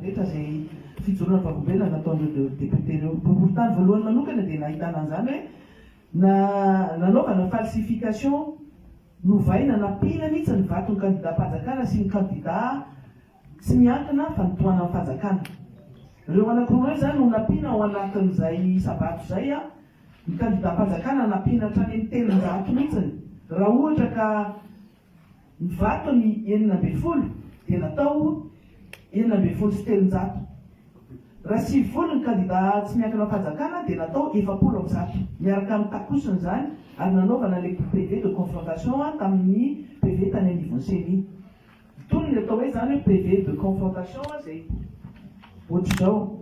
rehetra izay fijoroana vavolombelona nataon'ireo députés ireo. Ny boriboritany voalohany manokana dia nahitana an'izany hoe na nanaovana falsification novaina nampiana mihitsy ny vaton'ny kandidam-panjakana sy ny kandida tsy miankina fa nitohanan'ny fanjakana. Ireo anankiroa ireo izany no nampiana ao anatin'izay isa-bato izay. Ny kandidam-panjakana nampiana hatrany amin'ny telonjato mihitsy raha ohatra ka Ny vato ny enina ambin'ny folo dia natao enina ambin'ny folo sy telonjato. Raha sivifolo ny kandidà tsy miankina am-panjakana dia natao efapolo amby zato, miaraka amin'ny takosony izany ary nanaovana ilay PV de confrontation tamin'ny PV tany anivon'ny ceni. Itony ny atao hoe izany hoe PV de confrontation izay ohatr'izao.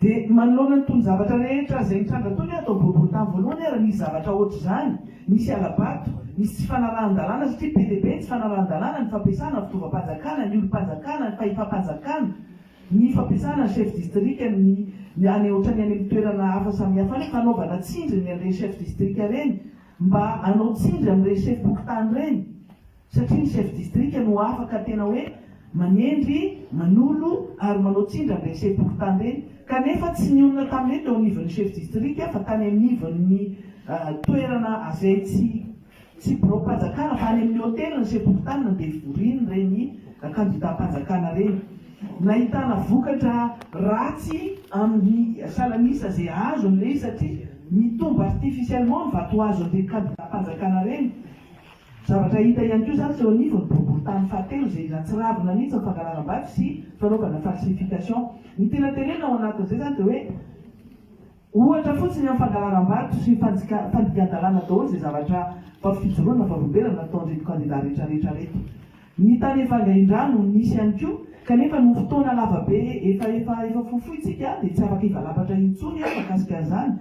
Dia manoloana ny tonon-javatra rehetra izay mitranga toy ny ato amin'ny boriboritany voalohany ary misy zavatra hoatr'izany, misy hala-bato, misy tsy fanarahan-dalàna satria be dia be ny tsy fanarahan-dalàna, ny fampiasana ny fitaovam-panjakana, ny olom-panjakana, ny fahefam-panjakana, ny fampiasana ny chef distrika, ny any ohatran'ny any amin'ny toerana hafa samihafa any, fanaovana tsindry ny an'ireny chef distrika ireny mba hanao tsindry amin'ireny chef fokontany ireny. satria ny chef distrika no afaka tena hoe manendry, manolo ary manao tsindry amin'ireny sepokontany ireny, kanefa tsy nionona tamin'ireny teo anivon'ny chef distrika fa tany anivon'ny toerana azay tsy tsy biraom-panjakana fa any amin'ny hotely ny sepokontany no devorian'ireny kandidam-panjakana ireny. Nahitana vokatra ratsy amin'ny salan'isa izay azony ilay izy satria mitombo artificiellement ny vato azon'ireny kandidam-panjakana ireny. Zavatra hita ihany koa izany sy eo anivon'ny boriborintany fahatelo izay ratsiravina mihitsy ny fangalaram-bato sy fanaovana falsification. Ny tena terena ao anatin'izay izany dia hoe ohatra fotsiny amin'ny fangalaram-bato sy fanjika fandikan-dalàna daholo izay zavatra vao fijoroana vao roberana nataon'ireto kandida retraretra ireto. Ny tany efa ngaindrano no nisy ihany koa, kanefa noho fotoana lava be efa efa efa fohifohintsika dia tsy afaka hivalapatra intsony aho mahakasika an'izany,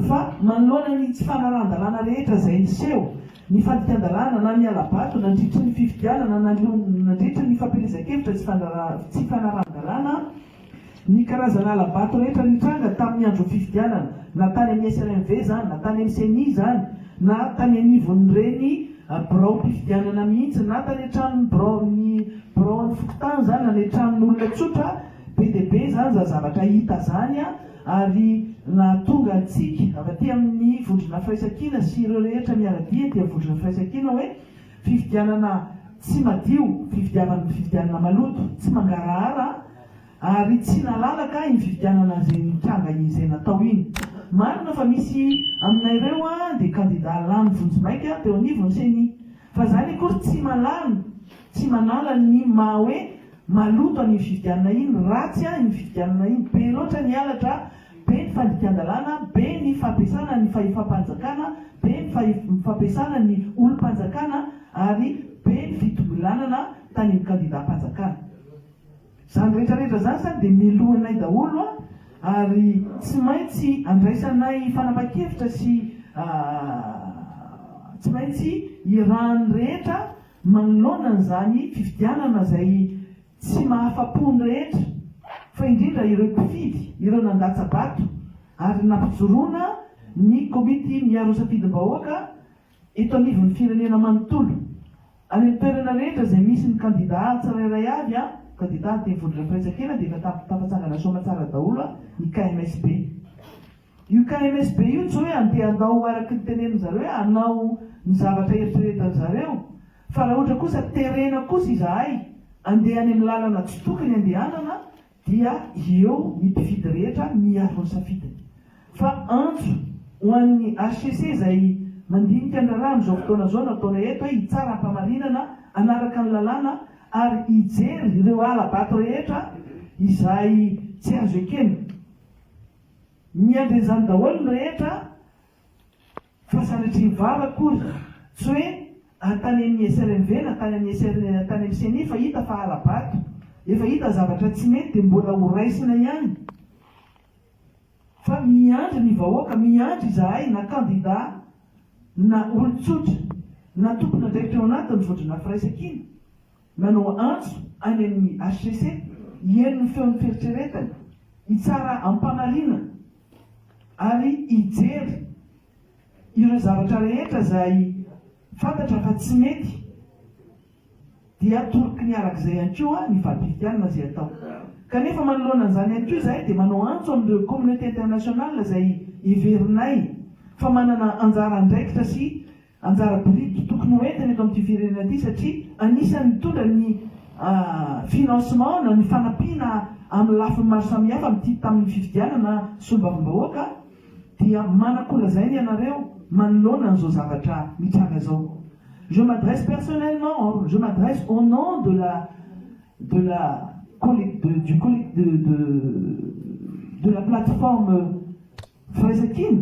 fa manoloana ny tsy fanarahan-dalàna rehetra izay niseho, ny fandikan-dalàna na ny hala-bato nandritry ny fifidianana na nandritry ny fampielezan-kevitra tsy fanarahan-dalàna, Ny karazana hala-bato rehetra nitranga tamin'ny andron'ny fifidianana, na tany amin'ny SRMV izany, na tany amin'ny Ceni izany, na tany anivon'ireny biraom-pifidianana mihitsy, na tany an-tranon'ny biraon'ny biraon'ny fokontany izany, na ny an-tranon'olona tsotra, be dia be izany izany zavatra hita izany ary nahatonga antsika avy aty amin'ny vondrona firaisankina sy ireo rehetra miara-dia aty amin'ny vondrona firaisankina hoe, Fifidianana tsy madio, fifidiavan fifidianana maloto, tsy mangarahara ary tsy nalalaka iny fifidianana izay nitranga iny izay natao iny. Marina fa misy aminareo dia kandida lany vonjimaika teo anivon'ny ceni, fa izany akory tsy malany, tsy manala ny maha hoe maloto an'iny fifidianana iny, ratsy iny fifidianana iny, be loatra ny halatra, be ny fandikan-dalàna, be ny fampiasana ny fahefam-panjakana, be ny fampiasana ny olom-panjakana ary be ny fitongilànana tany amin'ny kandidam-panjakana. Izany rehetra rehetra izany sa dia melohinay daholo an, ary tsy maintsy andraisanay fanapan-kevitra sy tsy maintsy irahan'ny rehetra manoloana an'izany fifidianana izay Tsy mahafa-po ny rehetra, fa indrindra ireo mpifidy, ireo nandatsa-bato ary nampijoroana ny Komity miaro safidim-bahoaka eto anivon'ny firenena manontolo. Any amin'ny toerana rehetra izay misy ny kandidà tsirairay avy, kandidà teny Vondrona Firaisankina, dia efa tafatsangana soamantsara daholo ny KMSB. Io KMSB io tsy hoe andeha hanao araka ny tenenin zareo hoe hanao ny zavatra eritreretan zareo fa raha ohatra kosa terena kosa izahay andeha any amin'ny lalana tsy tokony andehanana dia eo ny mpifidy rehetra miaro ny safidiny fa antso ho an'ny HCC izay mandinika ny raharaha amin'izao fotoana zao nataonay eto hoe hitsara ampamarinana hanaraka ny lalàna ary hijery ireo hala-bato rehetra izay tsy azo ekena. Miandry an'izany daholo ny rehetra fa sanatria vava akory, tsy hoe tany amin'ny SRMV na tany amin'ny SR na tany amin'ny ceni fa hita fa hala-bato, efa hita zavatra tsy mety dia mbola ho raisina ihany fa miandry ny vahoaka, miandry izahay na kandida na olon-tsotra na tompon'andraikitra ao anatin'ny vondronà firaisankina. Nanao antso any amin'ny hcc hihaino ny feon'ny fieritreretany, hitsara am-pamarinana ary hijery ireo zavatra rehetra izay fantatra fa tsy mety dia toroky ny arak'izay ihany koa ny vadimpifidianana izay atao. Kanefa manoloana an'izany ihany koa izahay dia manao antso amin'ireo communauté internationale izay heverinay fa manana anjara andraikitra sy Anjara biriky tokony ho entiny eto amin'ity firenena ity satria anisan'ny mitondra ny financement na ny fanampiana amin'ny lafiny maro samihafa amin'ity tamin'ny fifidianana solombavambahoaka dia manakolazaina ianareo manoloana an'izao zavatra mitranga izao. Je m'adresse personnellement, je m'adresse au nom de la de la de du collectif de de de la plateforme firaisankina,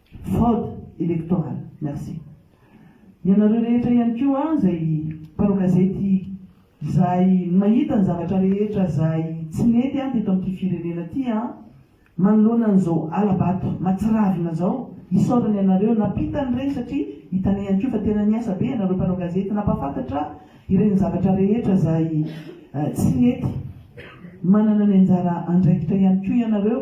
Fraude electorale. Merci. Ianareo rehetra ihany koa izay mpanao gazety izay mahita ny zavatra rehetra izay tsy nety an teto amin'ity firenena ity an, manoloana an'izao hala-bato matsiravina izao, isaorana ianareo nampita an'ireny satria hitana ihany koa fa tena niasa be ianareo mpanao gazety nampahafantatra ireny zavatra rehetra izay tsy nety. Manana ny anjara andraikitra ihany koa ianareo.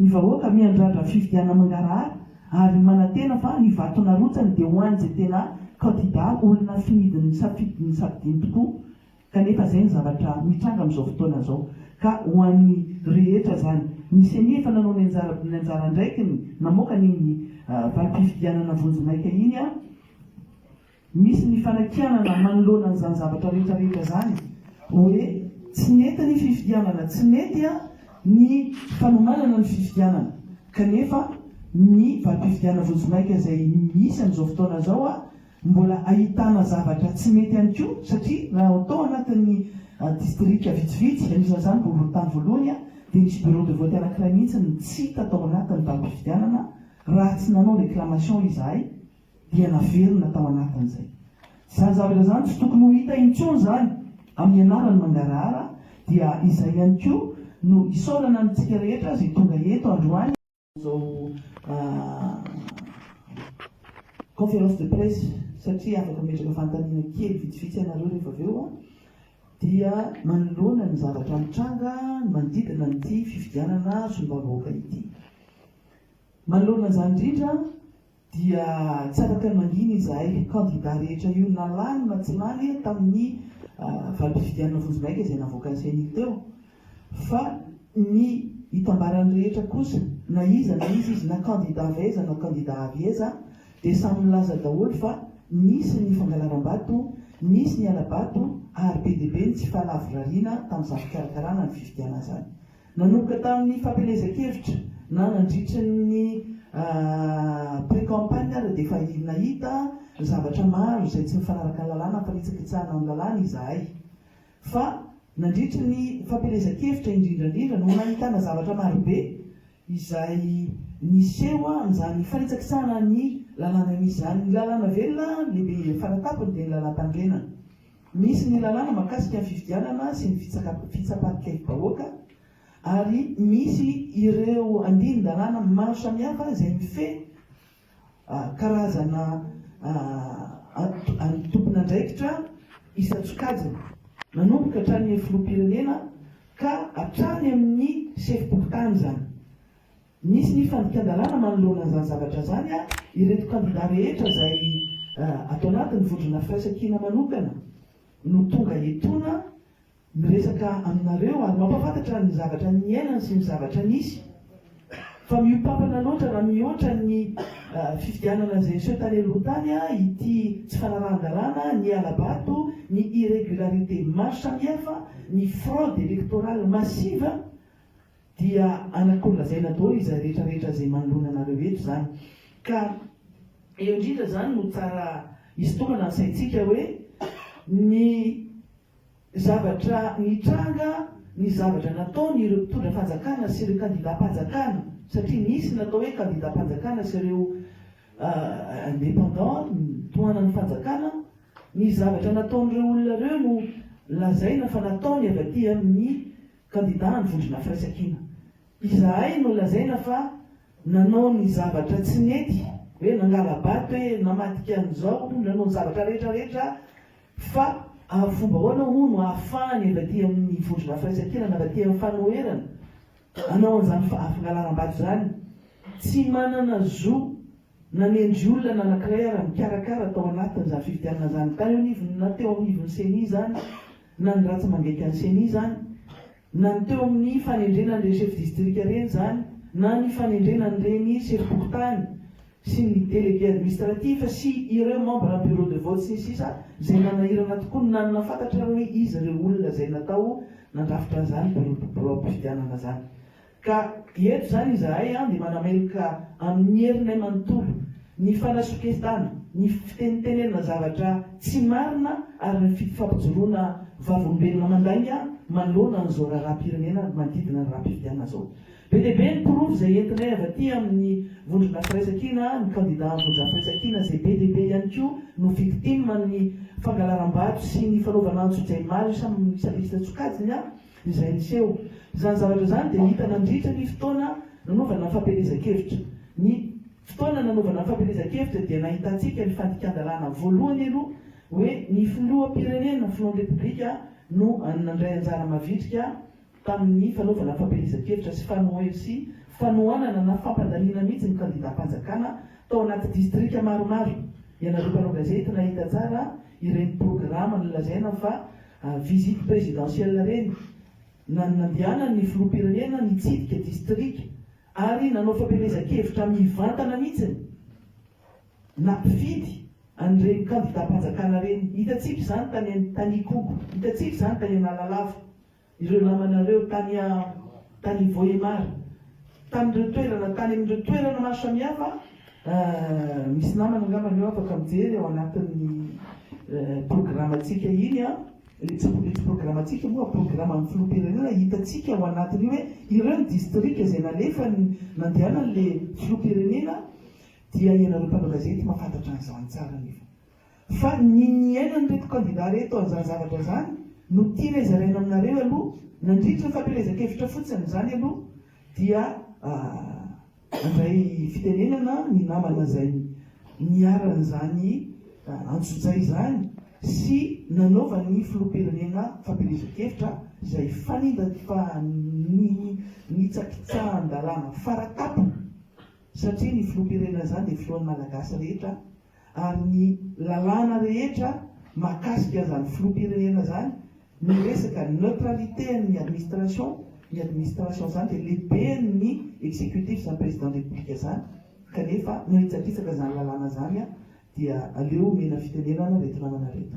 Ny vahoaka miandrandra fifidianana mangarahara ary manantena fa ny vato narotsany dia ho an'izay tena kandida olona finidiny nisafidy ny safidiny tokoa kanefa izay ny zavatra mitranga amin'izao fotoana izao ka ho an'ny rehetra izany. Ny ceni efa nanao ny anjara ny anjara andraikiny namoaka an'iny valim-pifidianana vonjimaika iny an! Misy ny fanakianana manoloana an'izany zavatra rehetra rehetra izany hoe tsy nety ny fifidianana, tsy nety ny fanomanana ny fifidianana kanefa ny valim-pifidianana vonjimaika izay misy amin'izao fotoana izao mbola ahitana zavatra tsy mety ihany koa satria raha tao anatin'ny distrika vitsivitsy anisan'izany boriborintany voalohany dia nisy bureau de vote anankiray mihitsy no tsy hita tao anatin'ny valim-pifidianana raha tsy nanao réclamation izahay dia naverina tao anatin'izay. Izany zavatra izany tsy tokony ho hita intsony izany amin'ny anaran'ny mangarahara dia izay ihany koa no isaorana antsika rehetra izay tonga eto androany izao conférence de presse satria afaka mametraka fanontaniana kely vitsivitsy ianareo rehefa avy eo dia manoloana ny zavatra mitranga manodidina an'ity fifidianana solombavambahoaka ity. Manoloana izany indrindra dia tsy afaka nangina izahay kandida rehetra io na lany na tsy lany tamin'ny valim-pifidianana vonjimaika izay navoakan'ny ceni teo fa ny itambaran'ny rehetra kosa na iza na iza izy na kandida avy aiza na kandida avy aiza dia samy nilaza daholo fa nisy ny fangalaram-bato, nisy ny hala-bato ary be dia be ny tsy fahalavorariana tamin'izany fikarakarana ny fifidianana izany. Nanomboka tamin'ny fampielezan-kevitra na nandritry ny pre-campagne ary dia efa nahita zavatra maro izay tsy mifanaraka ny lalàna ampanitsakitsahana ny lalàna izahay. Fa nandritry ny fampielezan-kevitra indrindra indrindra no nahitana zavatra marobe izay niseho amin'izany fanitsakitsahana ny lalàna izany. Ny lalàna velona lehibe faratapony dia ny lalàmpanorenana. Misy ny lalàna mahakasika ny fifidianana sy ny fitsapan-kevi-bahoaka ary misy ireo andinin-dalàna maro samihafa izay mifehy karazana tompon'andraikitra isan-tsokajiny, manomboka hatrany amin'ny filoham-pirenena ka hatrany amin'ny sefom-pokontany izany. Nisy ny fandikan-dalàna manoloana an'izany zavatra izany ary ireto kandidà rehetra izay ato anatin'ny vondrona firaisankina manokana no tonga etoana miresaka aminareo ary mampahafantatra ny zavatra niainany sy ny zavatra nisy fa mihoa-pampana loatra raha mihoatra ny fifidianana izay niseho tany aloha tany ity tsy fanarahan-dalàna, ny hala-bato, ny irregularités maro samihafa, ny fraude électorale massive. Dia anakony lazaina daholo izay rehetra rehetra izay manoloana anareo eto izany. Ka eo indrindra izany no tsara hisintomana ny saintsika hoe ny zavatra nitranga, ny zavatra nataon ireo mpitondra fanjakana sy ireo kandidam-panjakana, satria nisy ny atao hoe kandidam-panjakana sy ireo indépendants tohanan'ny fanjakana, ny zavatra nataon'ireo olona ireo no lazaina fa nataony avy aty amin'ny. kandidà ny Vondrona Firaisankina. Izahay no lazaina fa nanao ny zavatra tsy nety, hoe nangala-bato hoe namadika an'izao, nanao ny zavatra rehetra rehetra fa ary fomba ahoana moa no ahafahan'ny avy aty amin'ny Vondrona Firaisankina na avy aty amin'ny fanoherana hanao an'izany fangalaram-bato izany? Tsy manana zo Nanendry olona anankiray ara-mikarakara tao anatin'izany fifidianana izany tany eo anivon'ny na teo anivon'ny Ceni izany na ny ratsy mangaika ny Ceni izany na ny teo amin'ny fanendrena an'ireny chef distrika ireny izany na ny fanendrena an'ireny sefom-pokontany sy ny délégué administratif sy ireo membres bureau de vote sy ny sisa izay manahirana tokoa ny nanana fantatrareo hoe iza ireo olona izay natao nandrafitra an'izany bureau de bureau am-pifidianana izany Ka eto izany izahay dia manameloka amin'ny herinay manontolo ny fanasoketana, ny fitenitenenana zavatra tsy marina ary ny fampijoroana vavolombelona mandainga manoloana an'izao raharaham-pirenena manodidina ny raharaham-pifidianana izao. Be dia be ny porofo izay entinay avy aty amin'ny Vondrona Firaisankina, ny kandida amin'ny Vondrona Firaisankina izay be dia be ihany koa no victime amin'ny fangalaram-bato sy ny fanaovana antsojay maro isa-lista-tsokajiny. Izay niseho. Izany zavatra izany dia hita nandritra ny fotoana nanaovana ny fampielezan-kevitra. Ny fotoana nanaovana ny fampielezan-kevitra dia nahitantsika ny fandikan-dalàna voalohany aloha hoe ny filoham-pirenena, filohan'ny Repoblika, no nandray anjara mavitrika tamin'ny fanaovana ny fampielezan-kevitra sy fanoe sy fanohanana na fampandaniana mihitsy ny kandidam-panjakana tao anaty distrika maromaro. Ianareo mpanao gazety nahita tsara ireny programa nolazaina fa Visite présidentielle reny na nandehanan ny filoham-pirenena nitsidika distrika ary nanao fampielezan-kevitra mivantana mihitsy na mpifidy an'ireny kandidam-panjakana reny. Hitantsika izany tany tany Ikogo, hitantsika izany tany Analalava, ireo namanareo tany tany Vohemar, tamin'ireo toerana tany amin'ireo toerana maro samihafa Misy namana angamba ny eo afaka mijery ao anatin'ny programantsika iny an! Ilay tsy ilay tsy programantsika moa programan'ny filoham-pirenena hitantsika ao anatin'io hoe ireo ny distrika izay nalefany nandehanan'ilay filoham-pirenena dia ianareo mpanao gazety mahafantatra an'izany tsara anefa. fa ny niainan'ireto kandida ireto an'izany zavatra izany no tianay zaraina aminareo aloha nandritra ny fampielezan-kevitra fotsiny izany aloha dia handray fitenenana ny namana izay niharan'izany antsojay izany sy nanaovan'ny filoham-pirenena fampielezan-kevitra izay fanindanifanitsakitsahan-dalàna fara tampony satria ny filoham-pirenena izany dia filohan'ny malagasy rehetra ary ny lalàna rehetra mahakasika an'izany filoham-pirenena izany, ny resaka neutralité an'ny administration, ny administration izany dia lehiben'ny executif izany président de république izany, kanefa manitsakitsaka izany lalàna izany dia aleo omena fitenenana reto namana reto.